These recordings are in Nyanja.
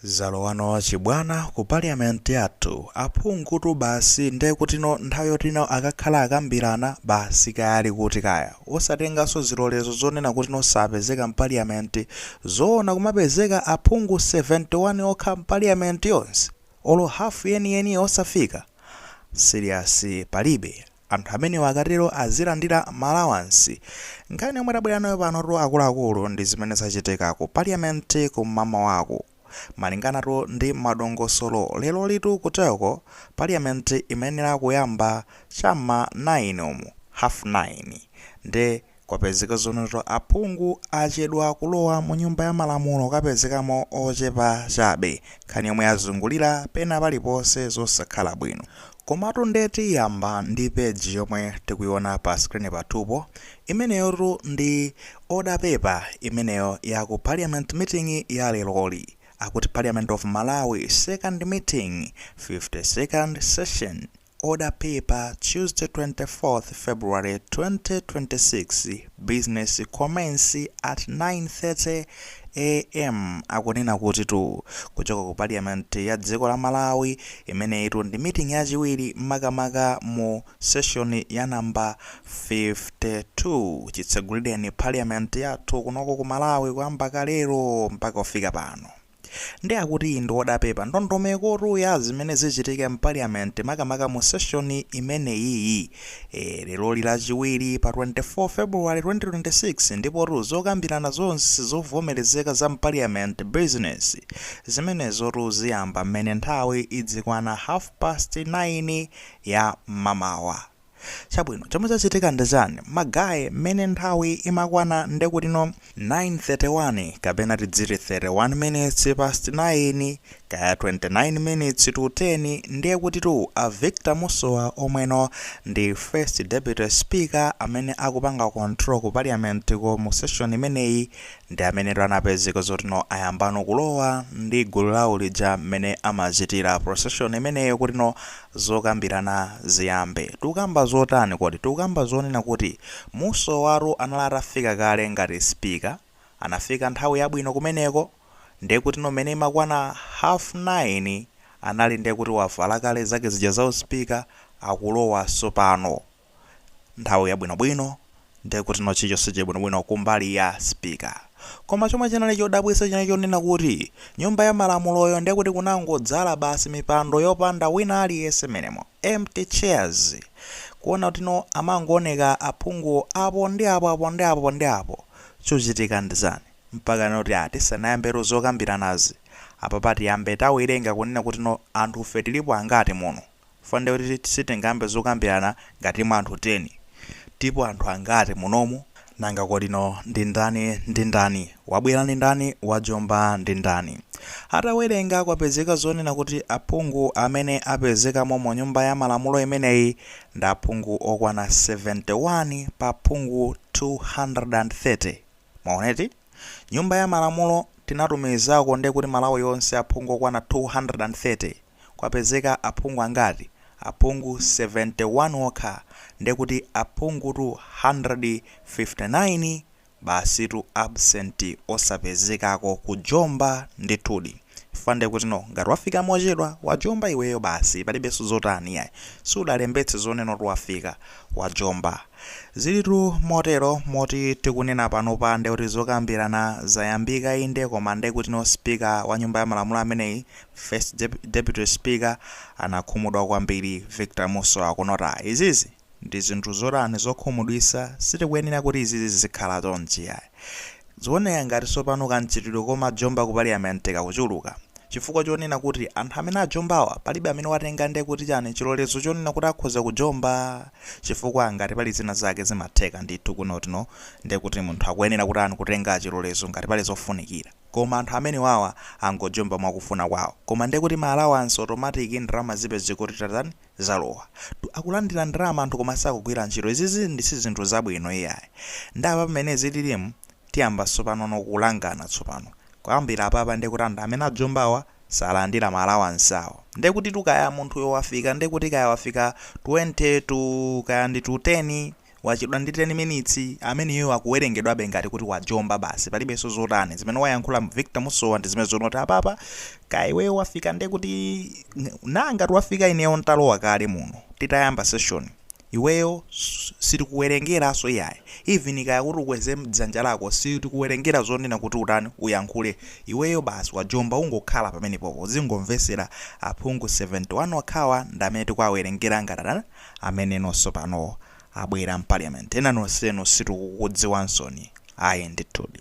Zalowano chibwana ku parliament yathu, aphungutu basi ndekutino nthawi yotino akakhala akambirana basi kaya ali kuti kaya, osatenganso zilolezo zonena kutino sapezeka mparliament, zoona kumapezeka aphungu 71 okha mparliament yonse? Olo half yeniyeniyo osafika? Serious palibe. Anthu amenewa akatero azilandira ma allowance. Nkhani yomwe tabwera nayo panotu akuluakulu ndi zimene zachitika ku parliament kum'mamawaku. Malinganatu ndi madongosolo lerolitu kuteroko parliament imayenera kuyamba cha m'ma 9 umu, half 9. Nde Kwapezeka zonoto aphungu achedwa kulowa mu nyumba ya malamulo okapezekamo ochepa chabe, nkhani yomwe yazungulira pena paliponse zosakhala bwino. Komatu nde tiyamba ndi page yomwe tikuiona pa screen pathupo, imeneyotu ndi order paper imeneyo ya ku parliament meeting ya leroli, akuti parliament of malawi second meeting 52nd session. Order paper Tuesday 24th February 2026 Business commence at 9:30 am Akunena kutitu kuchoka ku parliament ya dziko la Malawi imeneyitu ndi meeting yachiwiri makamaka mu session ya number 52 chitsegulireni parliament yathu kunoko ku Malawi kuyamba kalelo mpaka kufika pano Nde akuti ndi odapepa ndondomekotu ya zimene zichitike mpaliyamenti makamaka mu seshoni imeneyiyi. Eee leroli lachiwiri pa 24 February 2026 ndipotu zokambirana zonse zovomerezeka za mpaliyamenti bizinesi zimenezotu ziyamba mmene nthawi idzikwana half past 9 ya mmamawa. Chabwino chomwe chachitika ndi chani ma guy mmene nthawi imakwana ndekutino 9:31 kapena tidziti 31 minutes past 9 kaya 29 minutes to 10 ndiye kutitu a Victor Musowa omweno ndi first deputy speaker amene akupanga control ku parliament ko mu session imeneyi ndi amenetu anapezeka zotino ayambano kulowa ndi gulu lawo lija mmene amachitira procession imeneyo kutino Zokambilana ziyambe. Tikukamba zotani kodi? Tikukamba zonena kuti Musowatu anali atafika kale ngati speaker, anafika nthawi yabwino kumeneko, ndekutino mmene imakwana half nine anali ndekuti wavala kale zake zija za u speaker akulowa sopano. nthawi yabwinobwino ndiye kuti no chilichonse chili bwinobwino kumbali ya speaker koma chomwe chinali chodabwitsa chinali chonena kuti nyumba ya malamuloyo ndiye kuti kunangodzala basi mipando yopanda wina aliyense menemo empty chairs kuona kuti no amangooneka aphunguwo apo ndi apo apo ndi apo ndi apo chochitika ndi chani mpaka nena kuti ah tisanayambetu zokambiranazi apapa tiyambe tawerenga kunena kuti no anthufe tilipo angati muno Chifukwa ndiye kuti sitingayambe zokambirana ngati mwa anthu 10. Tilipo anthu angati munomu? Nanga kodi no ndi ndani ndi ndani? Wabwera ndi ndani? Wajomba ndi ndani? Atawerenga kwapezeka zonena kuti aphungu amene apezekamo mu nyumba ya malamulo imeneyi ndi aphungu okwana 71 pa aphungu 230. Mwaona eti? Nyumba ya malamulo tinatumizako nde kuti Malawi yonse aphungu okwana 230 kwapezeka aphungu angati? Aphungu 71 okha nde kuti aphungutu 159 basitu absent osapezekako kujomba ndithudi chifukwa nde kuti no ngati wafika mochedwa wajomba iweyo basi palibenso zotani yayi sudalembetse zonena kuti wafika wajomba. Zilitu motero moti tikunena panopa ndekuti zokambirana zayambika inde koma ndekutino speaker wa nyumba ya malamulo ameneyi, first deputy speaker, anakhumudwa kwambiri, Victor Musowa kunota. Izizi ndi zinthu zotani zokhumudwisa sitikuyenera kuti izizi zizikhala chonchi ayi. Zikuoneka ngati tsopano kamchitidwe komajomba ku paliyamenti kakuchuluka. Chifukwa chonena kuti anthu amene ajombawa palibe amene watenga nde kuti chani chilolezo chonena kuti akhoza kujomba? Chifukwa ngati pali zina zake zimatheka ndithu kunoti no nde kuti munthu akuyenera kutani kutenga chilolezo ngati pali zofunikira. Koma anthu amenewawa angojomba mwakufuna kwao. Koma nde kuti ma allowance automatic ndalama zipeze kuti tatani? zalowa akulandila ndalama anthu koma sakugwila ntchito izizi nde sizinthu zabwino iyayi nde apapa mmene zililimu tiyamba tsopano no kulangana tsopano kuyambila apapa nde kuti anthu amene ajombawa salandila ma allowance awo nde kuti tu kaya munthuyo wafika nde kuti kaya wafika 20 tu kaya ndi tu 10 Wachedwa ndi 10 minutes ameneyo akuwerengedwabe ngati kuti wajomba basi palibenso zotani zimene wayankhula Victor Musowa ndi zimenezo zoti apapa kaya iweyo wafika nde kuti naa ngati wafika ineyo ntalowa kale muno titayamba session iweyo sitikuwerengeranso iyayi even kaya kuti ukweze dzanja lako sitikuwerengera zonena kuti utani uyankhule iweyo basi wajomba ungokhala pamenepopo uzingomvetsera aphungu 71 okhawa ndamene tikuwawerengera ngati amene nonso pano abwera mparliament ena nonsenu sitikukudziwansoni ayi ndithudi.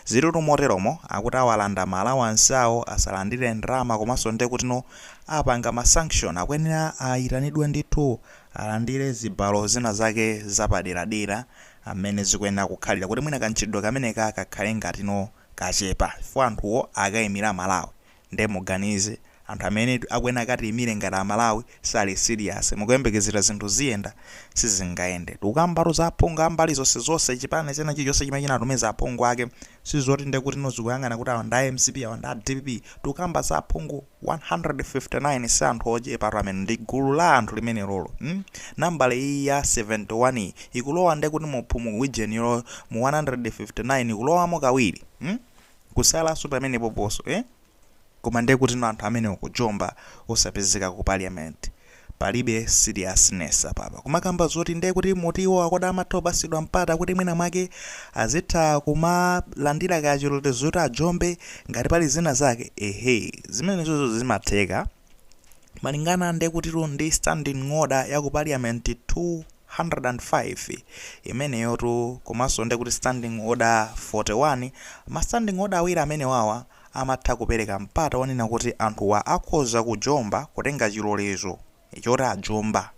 Zili tu moteromo akuti awalanda ma allowance awo asalandire ndalama komanso ndekutino apanga ma sanction akuyenera ayitanidwe ndithu alandire zibalo zina zake zapaderadera amene zikuyenera kukhalira kuti mwina kamchitidwe kameneka kakhale ngatino kachepa chifukwa anthuwo akaimira malawi Nde muganize, anthu amenetu akuyenera akatiimire ngati a Malawi sali serious mukuyembekezera zinthu ziyenda? Sizingayende. Tikukambatu za aphungu ambali zonse zonse chipani china chilichonse chimene chinatumiza aphungu ake sizoti ndekutino zikuyang'ana kuti awa ndi a mcp awa ndi a dpp. Tikukamba za aphungu 159 si anthu ochepatu amenewo ndi gulu la anthu limenelolo mm nambala iyi ya 71 iyi ikulowa ndekuti mu figure ijayo mu 159 ikulowamo kawiri mm. Kusalanso pamenepoponso eh? Koma ndekutino anthu amenewo kujomba osapezeka ku parliament. Palibe seriousness apapa. Kumakamba zoti ndekuti motion yo akuti amathopasidwa mpata kuti mwina mwake azitha kumalandira kaya chilolezo choti ajombe ngati pali zina zake? Ehe zimenezozo zimatheka. Malingana ndi kutitu ndi standing order ya ku parliament 205 imeneyotu komanso ndi kuti standing order 41, ma standing order awiri amenewawa amatha kupereka mpata wonena kuti anthuwa akhoza kujomba, kutenga chilolezo choti ajomba.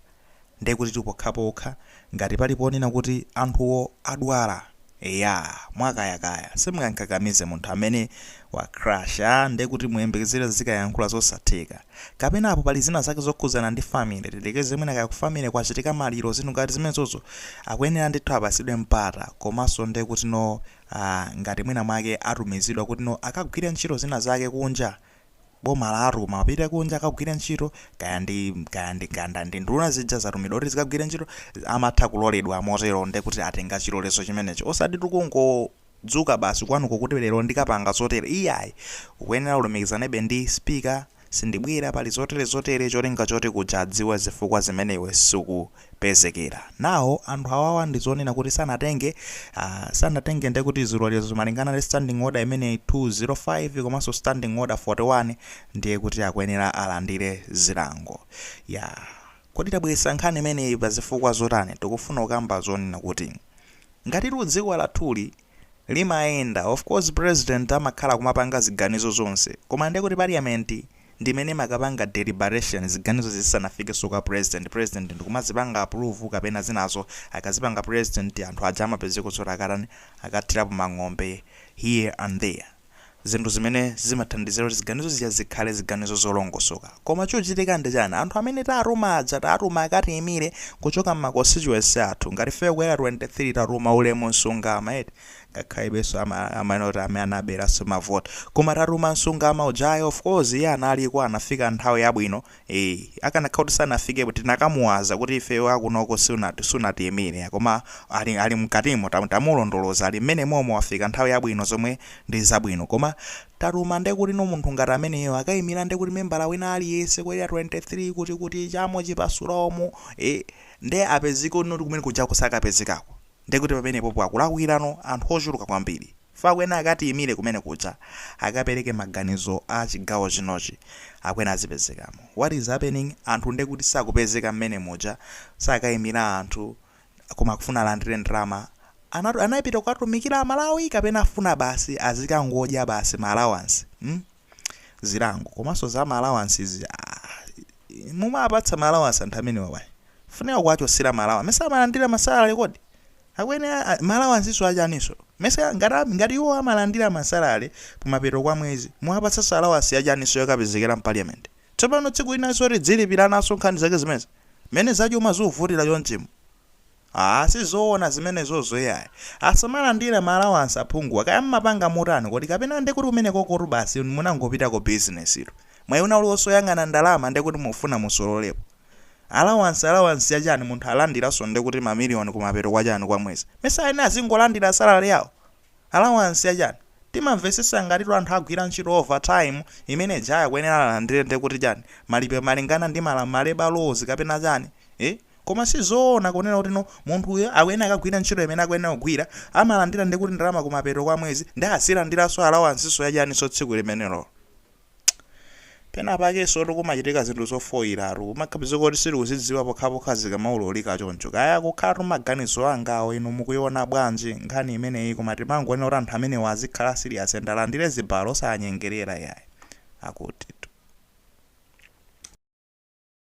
Ndiye kutitu pokhapokha ngati pali ponena kuti anthuwo adwala, eya, mwakayakaya, simungamkakamize munthu amene wakrasha ndiye kuti muyembekezere azikayankhula zosatheka. Kapena apo pali zina zake zokhudzana ndi family, tilekeze mwina kaya ku family kwachitika maliro, zinthu ngati zimenezozo, akuyenera ndithu apatsidwe mpata, komanso ndiye kuti no, ah, ngati mwina mwake atumizidwa kuti no akagwire ntchito zina zake kunja, boma lawatuma apite kunja akagwire ntchito kaya ndi kaya ndi kaya ndi nduna zija zatumidwa kuti zikagwire ntchito amatha kuloledwa motero nde kuti atenga chilolezo chimenecho osati tikungodzuka basi kwanuko kuti lero ndikapanga zotere iyayi ukuyenera ulumikizanebe ndi speaker sindibwera pali zotere zotere cholinga choti kuja adziwe zifukwa zimene iwe suku pezekera. Nawo anthu awawa ndi zonena kuti sanatenge ah, sanatenge nde kuti zilolezo malingana ndi standing order imeneyi 205 komanso standing order 41 ndiye kuti akuyenera alandire zilango. Yah kodi tabweretsa nkhani imeneyi pa zifukwa zotani? Tikufuna kukamba zonena kuti ngatitu dziko lathuli. limayenda of course president amakhala kumapanga ziganizo zonse koma nde kuti parliament ndimene imakapanga deliberation ziganizo zizisanafikenso kwa president president ndikumazipanga approve kapena zinazo akazipanga president anthu aja amapezeka zoti akatani akathirapo mang'ombe here and there zinthu zimene zimathandizira kuti ziganizo zija zikhale ziganizo zolongosoka. Koma chochitika ndi chani? Anthu amene tatuma aja tatuma akatiimire kuchoka mma constituency athu. Ngati ifeyo ku Area 23 tatuma Ulemu Msungama eti, ngakhalebenso ama amanena kuti amene anaberaso ma vote. Koma tatuma Msungama ujayo of course iye analiko anafika nthawi yabwino Eee akanakhala kuti sanafikepo tinakamuwaza kuti ifeyo akunoko sunati sunatiyimire ya koma ali ali mkatimo tam, tamulondoloza ali mmene momo wafika nthawi yabwino zomwe ndi zabwino koma tatuma nde kuti no munthu ngati ameneyo akayimira nde kuti membala wina aliyese ku area 23 kuti kuti chamo chipasula umu ee nde apezeka kuti kumene kujako sakapezekako Ndekuti pamenepopo akulakwirano anthu ochuluka kwambiri. Chifukwa akuyenera akatiyimire kumene kuja akapereke maganizo a chigawo chinochi akuyenera azipezekamo. What is happening anthu ndekuti sakupezeka mmene muja sakayimira anthu koma akufuna alandire ndalama anapita kukatumikira amalawi kapena afuna basi azikangodya basi ma allowance hmm. zilango komanso za ma allowance zi aah mumawapatsa ma allowance anthu amenewa bwanji funika kuwachosera ma allowance mesa amalandira ma salary kodi akuyenera ma allowance so achaninso mesa ngati ngati iwo amalandira ma salary kumapeto kwa mwezi muwapatsanso allowance yachaninso yokapezekera mu parliament tsopano tsiku linanso kuti dzilipiranaso nkhani zake zimezi mene zachuma zuvutira chonchimu Aaa sizoona zimenezozo yayi. Asamalandire ma allowance aphunguwa kaya mmapanga motani kodi kapena ndekuti kumenekokotu basi munangopitako business tu. Mwayi wina uliwonse oyang'ana ndalama ndekuti mufuna musololepo. Allowance allowance ya chani munthu alandiranso ndekuti ma million kumapeto kwa chani kwa mwezi. Mesa ayenera azingolandira salary yawo? Allowance ya chani? Timamvesesa ngatitu anthu agwira ntchito over time imene ija ya akuyenera alandire ndekuti chani malipiro malingana ndi mala ma labour laws kapena chani? Eeh? Koma si zoona kunena kuti no munthuyo akuyenera akagwira ntchito imene akuyenera kugwira, amalandira ndi kuti ndalama kumapeto kwa mwezi ndi azilandiranso alawansinso ya chaninso tsiku limenelolo. Penapakensotu kumachitika zinthu zofoiratu, kumapezeka kuti sitikuzidziwa pokhapokha zikamaululika choncho. Kaya kukhalatu maganizo angawo, inu mukuiona bwanji nkhani imeneyi koma timangonena kuti anthu amenewa azikhala serious and alandire zibalo osawanyengerera iyayi. Akutitu.